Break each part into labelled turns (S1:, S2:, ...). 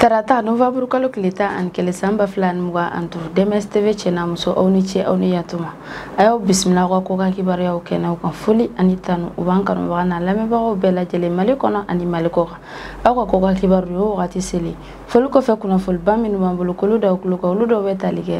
S1: tarata nowanburu kalo tile tan ani kelen san ba fila ni mugan ani duuru dms tv cɛ n'a muso aw ni ce aw ni yatuma an y'aw bisimila aw ka kɔkan kibaruyaw kɛnɛw kan foli ani tanu u b'an kanubagaw n'an lamɛnbagaw bɛɛ lajɛlen mali kɔnɔ ani mali kɔkan aw ka kɔkan kibaruyaw wagati seli foli kɔfɛ kunnafoliba minnu b'an bolo k'olu da aw tulo kan olu dɔw bɛ tali kɛ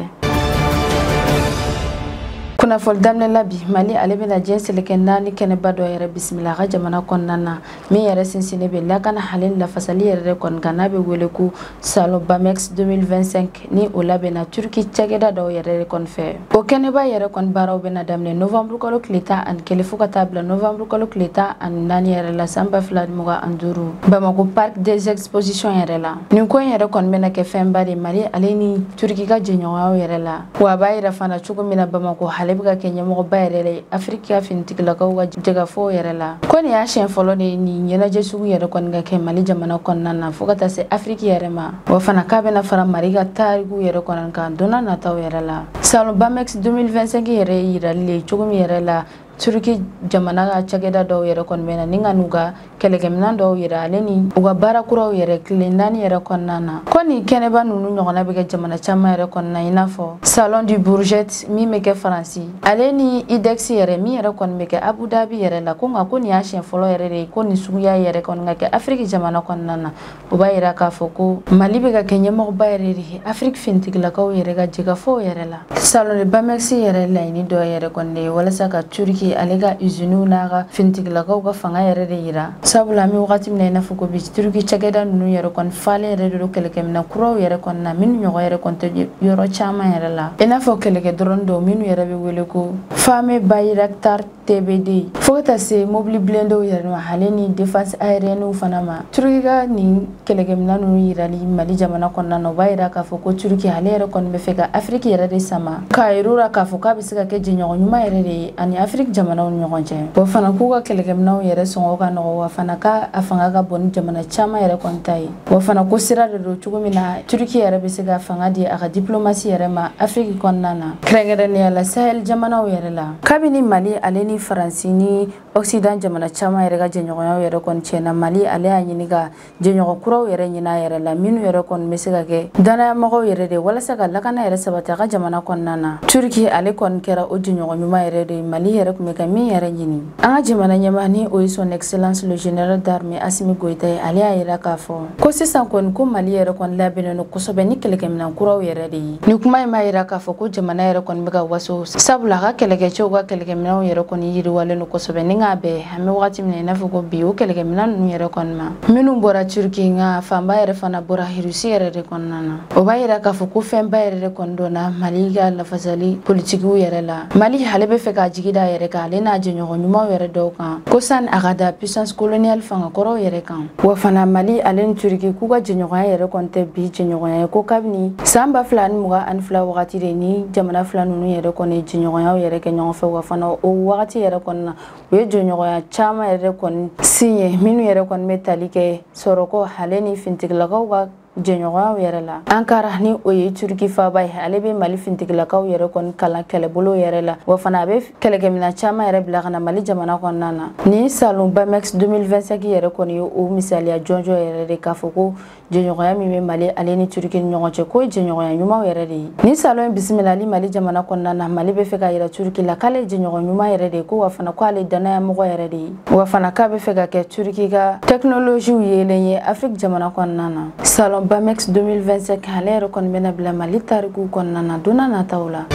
S1: kunnafoli daminɛ la bi mali ale bɛna diɲɛ seleke naani kɛnɛba dɔ yɛrɛ bisimila a ka jamana kɔnɔna na min yɛrɛ sinsinnen bɛ lakana ale ni lafasali yɛrɛ de kɔni kan n'a bɛ wele ko salon bamex 2025 ni o labɛnna turki cakɛda dɔw yɛrɛ de kɔni fɛ o kɛnɛba yɛrɛ kɔni baaraw bɛna daminɛ novembre kalo tile tan ani kelen fɔɔ ka taa bila novembre kalo tile tan ani naani yɛrɛ la san ba fila ni mugan ani duuru bamako parc des expositions yɛrɛ la nin ko yɛrɛ kɔni bɛna kɛ fɛnba de mali ale ni turiki ka jɛɲɔgɔnyaw yɛrɛ la wa a b'a yira fana cogo min na bamako ale bɛ ka kɛ ɲɛmɔgɔba yɛrɛ de ye afiriki ka finitigilakaw ka jɛkafɔw yɛrɛ la ko nin y'a siɲɛ fɔlɔ de ye nin ɲɛnajɛ sugu yɛrɛ kɔni ka kɛ mali jamana kɔnɔna na fɔɔ ka taa se afiriki yɛrɛ ma wa fana k'a bɛna fara mali ka tariku yɛrɛ kɔni kan don nataw yɛrɛ la salon bamex 2025 yɛrɛ ye yirali le cogo min yɛrɛ la turki jamana ka cakɛda dɔw yɛrɛ kɔni bɛ na ni ka n'u ka kɛlɛkɛminan dɔw yɛrɛ ale ni u ka baara kuraw yɛrɛ tile naani yɛrɛ kɔnɔna na ko nin kɛnɛba ninnu ɲɔgɔnna bɛ kɛ jamana caman yɛrɛ kɔnɔna i n'a fɔ salon du bourget min bɛ kɛ faransi ale ni idex yɛrɛ min yɛrɛ kɔni bɛ kɛ abu dhabi yɛrɛ la ko nka ko nin y'a siɲɛ fɔlɔ yɛrɛ de ye ko nin suguya yɛrɛ kɔni ka kɛ afiriki jamana kɔnɔna na o b'a yira k'a fɔ ko mali bɛ ka kɛ ɲɛmɔgɔba yɛrɛ de ye afiriki finitigilakaw yɛrɛ ka jɛkafɔw yɛrɛ la salon de bamex yɛrɛ laɲini dɔ yɛrɛ kɔni de ye walasa ka turiki ale ka iziniw n'a ka finitigilakaw ka fanga yɛrɛ de yira sabula an bɛ wagati min na i n'a fɔ ko bi turiki cakɛda ninnu yɛrɛ kɔni falen yɛrɛ de don kɛlɛkɛminɛn kuraw yɛrɛ kɔni na minnu ɲɔgɔn yɛrɛ kɔni tɛ yɔrɔ caman yɛrɛ la i n'a fɔ kɛlɛkɛ drone dɔw minnu yɛrɛ bɛ wele ko fameux bayraktar TB2 fo ka taa se mobili blindéw yɛrɛ ma ale ni défense aérienne fana ma Turki ka nin kɛlɛkɛminɛn ninnu yirali Mali jamana kɔnɔna na o b'a yira k'a fɔ ko Turki ale yɛrɛ kɔni b'a fɛ ka Afrique yɛrɛ de sama k'a yir'u la k'a fɔ k'a bɛ se ka kɛ jɛɲɔgɔn ɲuman yɛrɛ de ye a ni Afrique jamanaw ni ɲɔgɔn cɛ wa fana k'u ka kɛlɛkɛminɛnw yɛrɛ sɔngɔ ka nɔgɔ wa fana k'a fanga ka bon ni jamana caman yɛrɛ kɔni ta ye wa fana ko sira de don cogo min na turiki yɛrɛ bɛ se ka fanga di a ka diplomasi yɛrɛ ma afiriki kɔnɔna na kɛrɛnkɛrɛnnenya la sahel jamanaw yɛrɛ la kabini mali ale ni faransi ni occident jamana caman yɛrɛ ka jɛɲɔgɔnyaw yɛrɛ kɔni tiɲɛna mali ale y'a ɲini ka jɛɲɔgɔn kuraw yɛrɛ ɲini a yɛrɛ la minnu yɛrɛ kɔni bɛ se ka kɛ dannayamɔgɔw yɛrɛ de walasa ka lakana yɛrɛ sabati a ka jamana kɔnɔna na turiki ale kɔni kɛra o jɛɲɔgɔn ɲuman yɛrɛ de ye mali yɛrɛ tun bɛ ka min yɛrɛ ɲini An ka jamana ɲɛmaa ni o ye son excellence le général d'armée Asimi Goyita ye, ale y'a yira k'a fɔ ko sisan kɔni ko Mali yɛrɛ kɔni labɛnnen don kosɛbɛ ni kɛlɛkɛminɛn kuraw yɛrɛ de ye. Ni kuma in b'a yira k'a fɔ ko jamana yɛrɛ kɔni bɛ ka waso, sabula a ka kɛlɛkɛcɛw ka kɛlɛkɛminɛnw yɛrɛ kɔni yiriwalen don kosɛbɛ ni k'a bɛn an bɛ wagati min na i n'a fɔ ko bi o kɛlɛkɛminɛn ninnu yɛrɛ kɔni ma minnu bɔra Turquie nka fanba yɛrɛ fana bɔra Russie yɛrɛ de kɔnɔna na. O b'a yira k'a fɔ ko fɛnba yɛrɛ de kɔni donna Mali ka lafasali politikiw yɛrɛ la. mali ale bɛ fɛ k'a jigi da yɛrɛ kan ale n'a jɛɲɔgɔn ɲumanw yɛrɛ dɔw kan ko sani a k'a da puissance coloniale fanga kɔrɔw yɛrɛ kan wa fana mali ale ni turiki k'u ka jɛɲɔgɔnya yɛrɛ kɔni tɛ bi jɛɲɔgɔnya ye ko kabini san ba fila ni mugan ani fila wagati de ni jamana fila nunu yɛrɛ kɔni jɛɲɔgɔnyaw yɛrɛ kɛ ɲɔgɔn fɛ wa fana o wagati yɛrɛ kɔni na u ye jɛɲɔgɔnya caman yɛrɛ kɔni signé minnu yɛrɛ kɔni bɛ tali kɛ sɔrɔko ale ni fintigilakaw ka jɛɲɔgɔnyaw yɛrɛ la ankara ni o ye turiki faba ye ale bɛ mali fintigilakaw yɛrɛ kɔni kalan kɛlɛbolo yɛrɛ la wa fana a bɛ kɛlɛkɛmina caman yɛrɛ bila ka na mali jamana kɔnɔna na ni salon bamex 2025 yɛrɛ kɔni ye o misaliya jɔnjɔn yɛrɛ de k'a fɔ ko jɛɲɔgɔnya min bɛ mali ale ni turiki ni ɲɔgɔn cɛ k'o ye jɛɲɔgɔnya ɲumanw yɛrɛ de ye ni salon ye bisimilali mali jamana kɔnɔna na mali bɛ fɛ k'a yira turiki la k'ale ye jɛɲɔgɔn ɲuman yɛrɛ de ye ko wa fana ko ale dannayamɔgɔ yɛrɛ de ye wa fana k'a bɛ fɛ ka kɛ turiki ka tɛkinoloziw yeelen ye afiriki jamana kɔnɔna na salon bamex 2025 ale yɛrɛ kɔni bɛna bila mali tarikuw kɔnɔna na don nataw la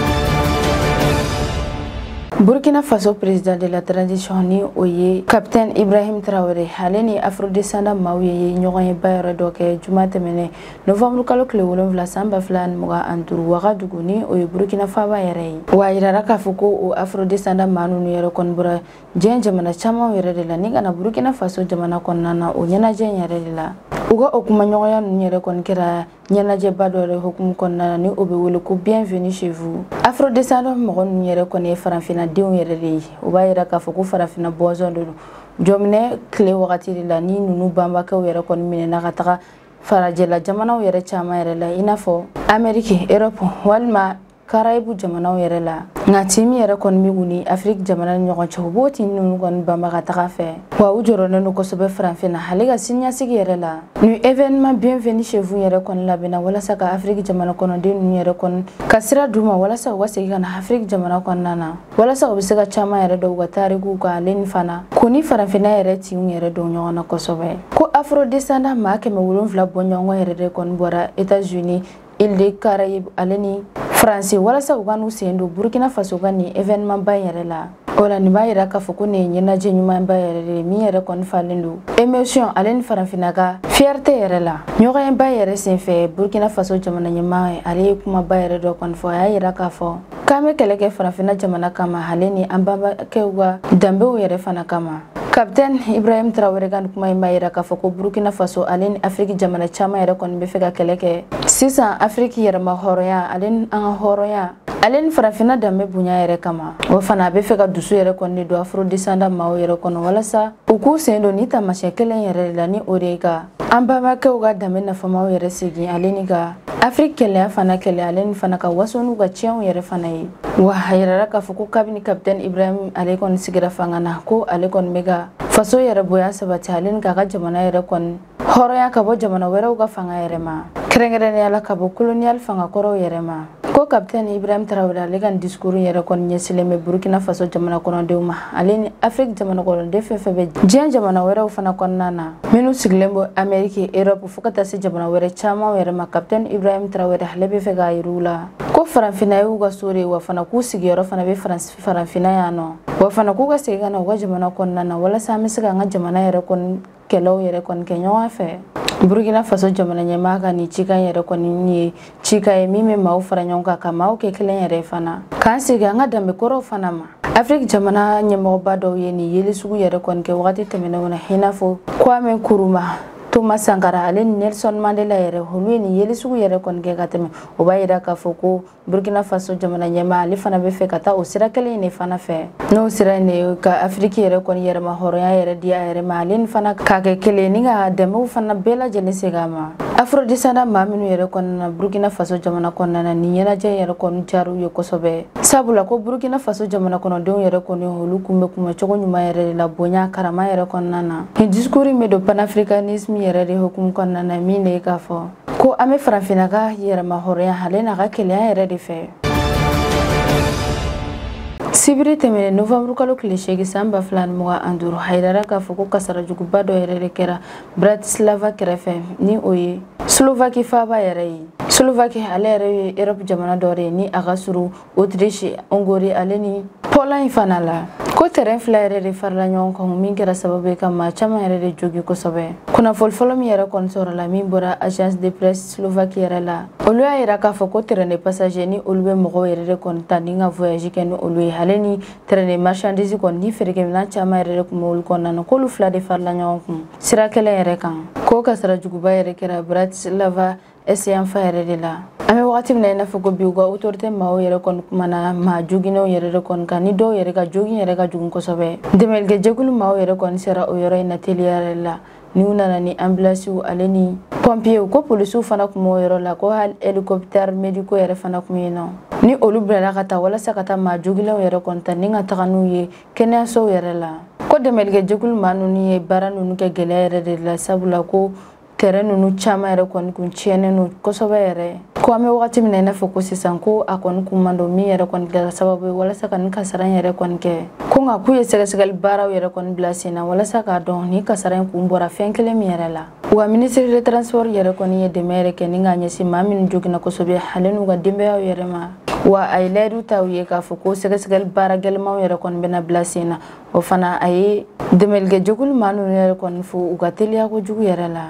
S1: burkina faso président de la transition ni o ye capitaine ibrahim traoré ale ni afrodescendant maaw ye ɲɔgɔnyeba yɛrɛ dɔ kɛ juma tɛmɛnen novembre kalo tile wolonfila san ba fila ni mugan ani duuru wagadugu ni o ye burkina faba yɛrɛ ye wa a yirara k'a fɔ ko o afrodescendant maa nunu yɛrɛ kɔni bɔra diɲɛ jamana camanw yɛrɛ de la ni ka na burukina faso jamana kɔnɔna na o ɲɛnajɛ in yɛrɛ de la u ka o kumaɲɔgɔnya ninnu yɛrɛ kɔni kɛra ɲɛnajɛba dɔ yɛrɛ hukumu kɔnɔna na ni o bɛ wele ko bienvenue chez vous afrodescendant mɔgɔ ninnu yɛrɛ kɔni ye farafinna denw yɛrɛ de ye u b'a yira k'a fɔ ko farafinna bɔnsɔn de don jɔnminɛ tile wagati de la ni ninnu bɛnbakɛw yɛrɛ kɔni minɛna ka taga farajɛla jamanaw yɛrɛ caman yɛrɛ la i n'a fɔ ameriki erɔpu walima karayibu jamanaw yɛrɛ la nka tin min yɛrɛ kɔni bɛ u ni afiriki jamana ni ɲɔgɔn cɛ u b'o tin ninnu kɔni banban ka taga a fɛ wa u jɔrɔlen don kosɛbɛ faranfinna ale ka siniɲɛsigi yɛrɛ la ni événement bienvenue chez vous yɛrɛ kɔni labɛnna walasa ka afiriki jamana kɔnɔden ninnu yɛrɛ kɔni ka sira d'u ma walasa u ka segin ka na afiriki jamana kɔnɔna na walasa u bɛ se ka caman yɛrɛ dɔn u ka tarikuw kan ale ni fana ko ni faranfinna yɛrɛ tinw yɛrɛ don ɲɔgɔn na kosɛbɛ ko afrodescendant maa kɛmɛ wolonfila bɔɲɔgɔn yɛrɛ de kɔni bɔra etats unis Île des Caraïbes ale ni France walasa u ka n'u sen don Burkina Faso ka nin événement ba in yɛrɛ la o la nin b'a yira k'a fɔ ko nin ye ɲɛnajɛ ɲumanba yɛrɛ de ye min yɛrɛ kɔni falen don émotion ale ni farafinna ka fierté yɛrɛ la ɲɔgɔnyeba yɛrɛ senfɛ Burkina Faso jamana ɲɛmaa ale ye kumaba yɛrɛ dɔ kɔni fɔ a y'a yira k'a fɔ k'an bɛ kɛlɛ kɛ farafinna jamana kama ale ni an banbakɛw ka danbew yɛrɛ fana kama kapitɛn ibrahim tarawele ka nin kuma in b'a yira k'a fɔ ko burkina faso ale ni afiriki jamana caman yɛrɛ kɔni bɛ fɛ ka kɛlɛ kɛ sisan afiriki yɛrɛma hɔrɔnya ale ni an ka hɔrɔnya ale ni farafinna danbe bonya yɛrɛ kama o fana a bɛ fɛ ka dusu yɛrɛ kɔni de don afrodesanda maaw yɛrɛ kɔnɔ walasa u k'u sen don ni taamasiyɛn kelen yɛrɛ de la ni o de ye ka an banbakɛw ka danbe nafamaw yɛrɛ segin ale ni ka afiriki kelenya fana kɛlɛ ale ni fana ka waso n'u ka tiɲɛw yɛrɛ fana ye wa a yirara k'a fɔ ko kabini kapitɛni ibrahim ale kɔni sigira fanga na ko ale kɔni bɛ ka faso yɛrɛ bonya sabati ale ni k'a ka jamana yɛrɛ kɔni hɔrɔnya ka bɔ jamana wɛrɛw ka fanga yɛrɛ ma kɛrɛnkɛrɛnnenya la ka bɔ koloniyali fanga kɔrɔw yɛrɛ ma ko kapitɛn ibrahim tarawele ale ka disikuru yɛrɛ kɔni ɲɛsilen bɛ burkina faso jamana kɔnɔdenw ma ale ni afiriki jamana kɔnɔden fɛn fɛn bɛ diɲɛ jamana wɛrɛw fana kɔnɔna na minnu sigilen bɔ ameriki erɔpu fo ka taa se jamana wɛrɛ caman yɛrɛ ma kapitɛn ibrahim tarawele ale bɛ fɛ k'a yir'u la ko faranfina y'u ka so de ye wa fana k'u sigiyɔrɔ fana bɛ faranfina yan nɔ wa fana k'u ka segin ka na u ka jamana kɔnɔna na walasa an bɛ se ka an ka jamana yɛrɛ kɔni kɛlɛw yɛrɛ kɔni kɛ ɲɔgɔn fɛ burkina faso jamana ɲɛmaa ka nin cikan yɛrɛ kɔni ye cikan ye min bɛ maaw fara ɲɔgɔn kan ka maaw kɛ kelen yɛrɛ fana k'an segin an ka danbe kɔrɔw fana ma afiriki jamana ɲɛmɔgɔba dɔw ye nin yeli sugu yɛrɛ kɔni kɛ wagati tɛmɛnenw na i n'a fɔ kwame nkrumah toma sankara ale ni nelson mandela yɛrɛ olu ye nin yeli sugu yɛrɛ kɔni kɛ ka tɛmɛ o b'a yira k'a fɔ ko burkina faso jamana ɲɛmaa ale fana bɛ fɛ ka taa o sira kelen in de fana fɛ n'o sira in de ka afiriki yɛrɛ kɔni yɛrɛma hɔrɔnya yɛrɛ di a yɛrɛ ma ale ni fana k'a kɛ kelen ni ka dɛmɛw fana bɛɛ lajɛlen segin a ma afrodesanda maa minnu yɛrɛ kɔni nana burkina faso jamana kɔnɔna na nin ɲɛnajɛ in yɛrɛ kɔni diyara u ye kosɛbɛ sabula ko burkina faso jamana kɔnɔdenw yɛrɛ kɔni olu kun bɛ kunbɛn cogo ɲuman yɛrɛ de la bonya karama yɛrɛ kɔnɔna na nin discours in bɛ don panafricanisme yɛrɛ de hukumu kɔnɔna na min de ye k'a fɔ ko an bɛ farafinna ka yɛrɛmahɔrɔnya ale n'a ka kelenya yɛrɛ de fɛ sibiri tɛmɛnen novanburu kalo tile seegin san ba fila ni mugan ani duuru a yirara k'a fɔ ko kasara juguba dɔ yɛrɛ de kɛra bratislava kɛrɛfɛ ni o ye slovaki faaba yɛrɛ ye slovaki ale yɛrɛ ye erɔpu jamana dɔ de ye ni a ka surun otirisi ongori ale ni pɔlɔɲi fana la ko tɛrɛn fila yɛrɛ de farala ɲɔgɔn kan min kɛra sababu ye ka maa caman yɛrɛ de jogi kosɛbɛ kunnafoni fɔlɔ min yɛrɛ kɔni sɔrɔla min bɔra agence de presse slovaki yɛrɛ la olu y'a yira k'a fɔ ko tɛrɛn de passager ni olu bɛ mɔgɔw yɛrɛ de kɔni ta ni ka voyage kɛ ni olu ye ale ni tɛrɛn de marchandise kɔni ni feerekɛminɛn caman yɛrɛ de tun bɛ olu kɔnɔna na k'olu fila de farala ɲɔgɔn kun sira kelen yɛrɛ kan k'o kasara juguba yɛrɛ kɛra bratislava est yanfan yɛrɛ de la an bɛ wagati min na i n'a fɔ ko bi u ka autorité maaw yɛrɛ kɔni kumana maa jogilenw yɛrɛ de kɔni kan ni dɔw yɛrɛ ka jogin yɛrɛ ka jugu kosɛbɛ dɛmɛlikɛ jɛkulu maaw yɛrɛ kɔni sera o yɔrɔ in na teliya yɛrɛ la n'u nana ni anbilansiw ale ni pɔnpiyew ko polisiw fana tun b'o yɔrɔ la ko hali helikopitɛri mediko yɛrɛ fana tun yen nɔ ni olu bilala ka taa walasa ka taa maa jogilenw yɛrɛ kɔni ta ni ka taga n'u ye kɛnɛyasow yɛrɛ la ko dɛmɛlikɛ jɛkulu maa ninnu ye baara ninnu kɛ gɛlɛya yɛrɛ de la sabula ko tɛrɛn ninnu caman yɛrɛ kɔni kun tiɲɛnen don kosɛbɛ yɛrɛ ko an bɛ wagati min na i n'a fɔ ko sisan ko a kɔni kun ma dɔn min yɛrɛ kɔni kɛra sababu ye walasa ka nin kasara in yɛrɛ kɔni kɛ ko nka k'u ye sɛgɛsɛgɛli baaraw yɛrɛ kɔni bila sen na walasa k'a dɔn nin kasara in kun bɔra fɛn kelen min yɛrɛ la wa minisiri de transport yɛrɛ kɔni ye dɛmɛ yɛrɛ kɛ ni k'a ɲɛsin maa minnu joginna kosɛbɛ ale n'u ka denbayaw yɛrɛ ma wa a ye layidu ta u ye k'a fɔ ko sɛgɛsɛgɛli baara gɛlɛmanw yɛrɛ kɔni bɛna bila sen na o fana a ye dɛmɛlikɛjɛkulu maa ninnu yɛrɛ kɔni fo u ka teliya kojugu yɛrɛ la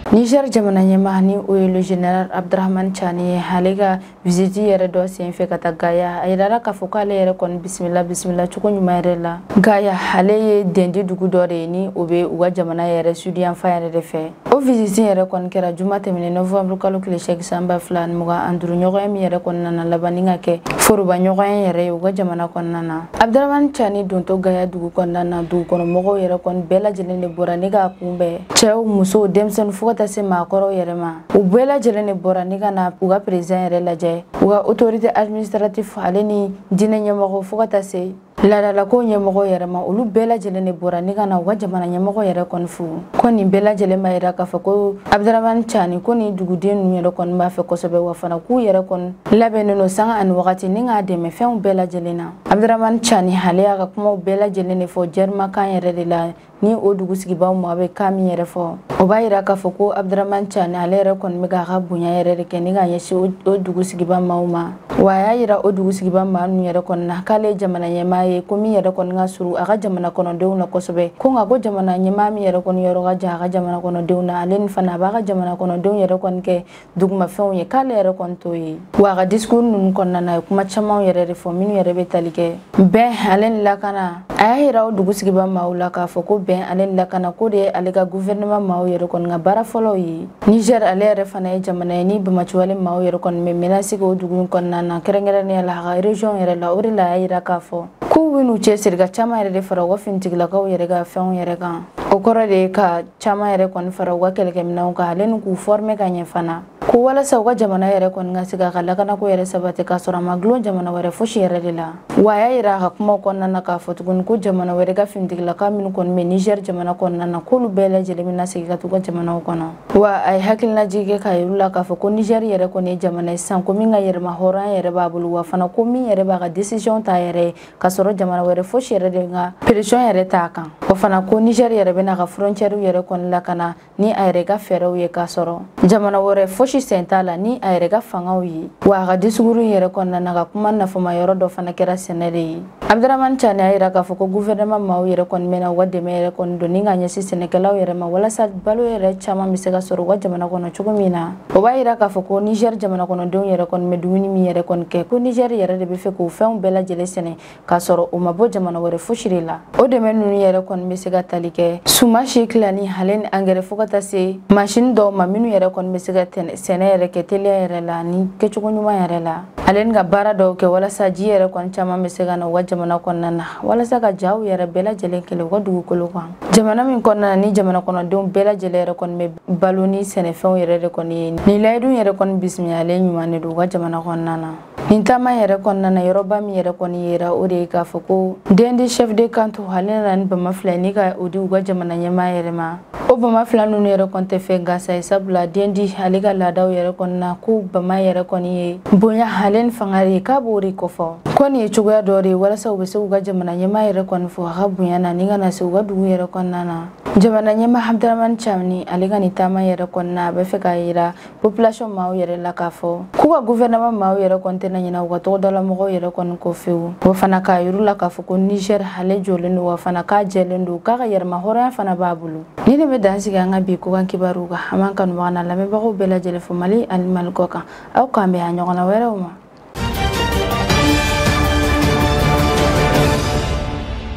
S1: Niger jamana ɲɛmaa ni o ye le général Abdrahman Tchani ye ale ka visite yɛrɛ dɔ senfɛ ka taa Gaya a yirala k'a fɔ k'ale yɛrɛ kɔni bisimila bisimila cogo ɲuman yɛrɛ la Gaya ale ye dendi dugu dɔ de ye ni o bɛ u ka jamana yɛrɛ sudiyanfan yɛrɛ de fɛ o visite yɛrɛ kɔni kɛra juma tɛmɛnen novembre kalo tile seegin san ba fila ni mugan ani duru ɲɔgɔnye min yɛrɛ kɔnɔna na laban ni ka kɛ foroba ɲɔgɔnye yɛrɛ ye u ka jamana kɔnɔna na abdramani cani dontɔ gaya dugu kɔnɔna na dugukɔnɔmɔgɔw yɛrɛ kɔni bɛɛ lajɛlen de bɔra ni k'a kunbɛn cɛw musow denmisɛnninw fo ka taa se maakɔrɔw yɛrɛ ma u bɛɛ lajɛlen de bɔra ni ka na u ka perezidan yɛrɛ lajɛ u ka autorité administrative ale ni diinɛ ɲɛmɔgɔ fo ka taa se laadalako ɲɛmɔgɔ yɛrɛ ma olu bɛɛ lajɛlen de bɔra ni ka na u ka jamana ɲɛmɔgɔ yɛrɛ kɔni fo ko nin bɛɛ lajɛlen b'a yira k'a fɔ ko abdramani cani ko nin duguden ninnu yɛrɛ kɔni b'a fɛ kosɛbɛ wa fana k'u yɛrɛ kɔni labɛnnen don sanga ani wagati ni k'a dɛmɛ fɛnw bɛɛ lajɛlen na abdramani cani ale y'a ka kumaw bɛɛ lajɛlen de fɔ jɛrimakan yɛrɛ de la ni o dugu sigibaw maa bɛ kan min yɛrɛ fɔ o b'a yira k'a fɔ ko abdurahman cani ale yɛrɛ kɔni bɛ k'a ka bonya yɛrɛ de kɛ ni k'a ɲɛsin o dugu sigiba maaw ma wa a y'a yira o dugu sigiba maa ninnu yɛrɛ kɔni na k'ale ye jamana ɲɛmaa ye ko min yɛrɛ kɔni ka surun a ka jamana kɔnɔdenw na kosɛbɛ ko nka ko jamana ɲɛmaa min yɛrɛ kɔni yɔrɔ ka jan a ka jamana kɔnɔdenw na ale ni fana a b'a ka jamana kɔnɔdenw yɛrɛ kɔni kɛ dugumafɛnw ye k'ale yɛrɛ kɔni t'o ye wa a ka discours ninnu kɔnɔna na a ye kuma camanw yɛrɛ de fɔ minnu yɛrɛ bɛ tali kɛ bɛn ale ni lakana a y'a yira o dugu sigiba maaw la k'a fɔ ko bɛn ale ni lakana k'o de ye ale ka guvɛrɛnɛman maaw yɛrɛ kɔni ka baara fɔlɔw ye niger ale yɛrɛ fana ye jamana ye ni banbaanciwale maaw yɛrɛ kɔni bɛ menasi k'o dugu in kɔnɔna na kɛrɛnkɛrɛnnenya la a ka region yɛrɛ la o de la a y'a yira k'a fɔ k'u bɛn'u cɛsiri ka caman yɛrɛ de fara u ka finitigilakaw yɛrɛ ka fɛnw yɛrɛ kan o kɔrɔ de ye ka caman yɛrɛ kɔni fara u ka kɛlɛkɛminɛnw kan ale ni k'u fɔrme ka ɲɛ fana ko walasa u ka jamana yɛrɛ kɔni ka se k'a ka lakanako yɛrɛ sabati k'a sɔrɔ a ma gulon jamana wɛrɛ fosi yɛrɛ de la wa a y'a yira a ka kumaw kɔnɔna na k'a fɔ tuguni ko jamana wɛrɛ ka finitigilaka minnu kɔni bɛ nizɛr jamana kɔnɔna na k'olu bɛɛ lajɛlen bɛna segin ka t'u ka jamanaw kɔnɔ wa a ye hakilinajigi kɛ k'a yir'u la k'a fɔ ko nizɛr yɛrɛ kɔni ye jamana ye sisan ko min ka yɛrɛmahɔrɔnya yɛrɛ b'a bolo wa fana ko min yɛrɛ b'a ka desisiyɔn t'a yɛrɛ ye k'a sɔrɔ jamana wɛrɛ fosi yɛrɛ de ka presiyɔn yɛrɛ t'a kan wa fana ko nizɛri yɛrɛ bɛna a ka frontiɛriw yɛrɛ kɔni lakana ni a yɛrɛ ka fɛɛrɛw ye k'a sɔrɔ jamana wɛrɛ fosi sen t'a la ni a yɛrɛ ka fangaw ye wa a ka disukuru yɛrɛ kɔnɔna na a ka kuma nafama yɔrɔ dɔ fana kɛra sɛnɛ de ye abdramani cani y'a yira k'a fɔ ko guvɛrɛnama maaw yɛrɛ kɔni bɛna u ka dɛmɛ yɛrɛ kɔni don ni ka ɲɛsin sɛnɛkɛlaw yɛrɛ ma walasa balo yɛrɛ caman bɛ se ka sɔrɔ u ka jamana kɔnɔ cogo min na o b'a yira k'a fɔ ko nizɛr jamana kɔnɔdenw yɛrɛ kɔni bɛ dumuni min yɛrɛ kɔni kɛ ko nizɛr yɛrɛ de b'a fɛ k'o fɛnw bɛɛ lajɛlen sɛnɛ k'a sɔrɔ o ma bɔ jamana wɛrɛ fosi de la o dɛmɛ ninnu yɛrɛ kɔni bɛ se ka tali kɛ sumansi tilani ale ni angɛrɛ fo ka taa se masini dɔw ma minnu yɛrɛ kɔni bɛ se ka sɛnɛ yɛrɛ kɛ teliya yɛrɛ la ni kɛcogo ɲuman yɛrɛ la ale ni ka baara dɔw kɛ walasa ji yɛrɛ kɔni caman bɛ se ka na u ka jamana kɔnɔna na walasa ka jaw yɛrɛ bɛɛ lajɛlen kɛlɛ u ka dugukolo kan jamana min kɔnɔna na ni jamana kɔnɔdenw bɛɛ lajɛlen yɛrɛ kɔni bɛ balo ni sɛnɛfɛnw yɛrɛ de kɔni ye nin layidu yɛrɛ kɔni bisimilalen ɲuman de don u ka jamana kɔnɔna na nin taama yɛrɛ kɔnɔna na yɔrɔba min yɛrɛ kɔni yera o de ye k'a fɔ ko dendi chef de canton ale nana ni bama fila ni ka o di u ka jamana ɲɛmaa yɛrɛ ma o bama fila ninnu yɛrɛ kɔni tɛ fɛn gansan ye sabula dendi ale ka laadaw yɛrɛ kɔnɔna ko bama yɛrɛ kɔni ye bonya ale ni fanga de ye k'a b'o de kɔfɔ ko nin ye cogoya dɔ de ye walasa u bɛ se k'u ka jamana ɲɛmaa yɛrɛ kɔni fo a ka bonya na ni ka na se u ka dugu yɛrɛ kɔnɔna na jamana ɲɛmaa abdramani cani ale ka nin taama yɛrɛ kɔnɔna a b'a fɛ k'a yira population maaw yɛrɛ la k'a fɔ k'u ka guvɛrɛnama maaw yɛrɛ kɔni tɛna ɲina u ka togodalamɔgɔw yɛrɛ kɔni kɔ fewu wa fana k'a yir'u la k'a fɔ ko niger ale jɔlen don wa fana k'a jɛlen don k'a ka yɛrɛmahɔrɔnya fana b'a bolo nin de bɛ dan sigi an ka bi kɔkan kibaruw kan an b'an kanubaga n'an lamɛnbagaw bɛɛ lajɛlen fo mali ani mali kɔkan aw k'an bɛn a ɲɔgɔnna wɛrɛw ma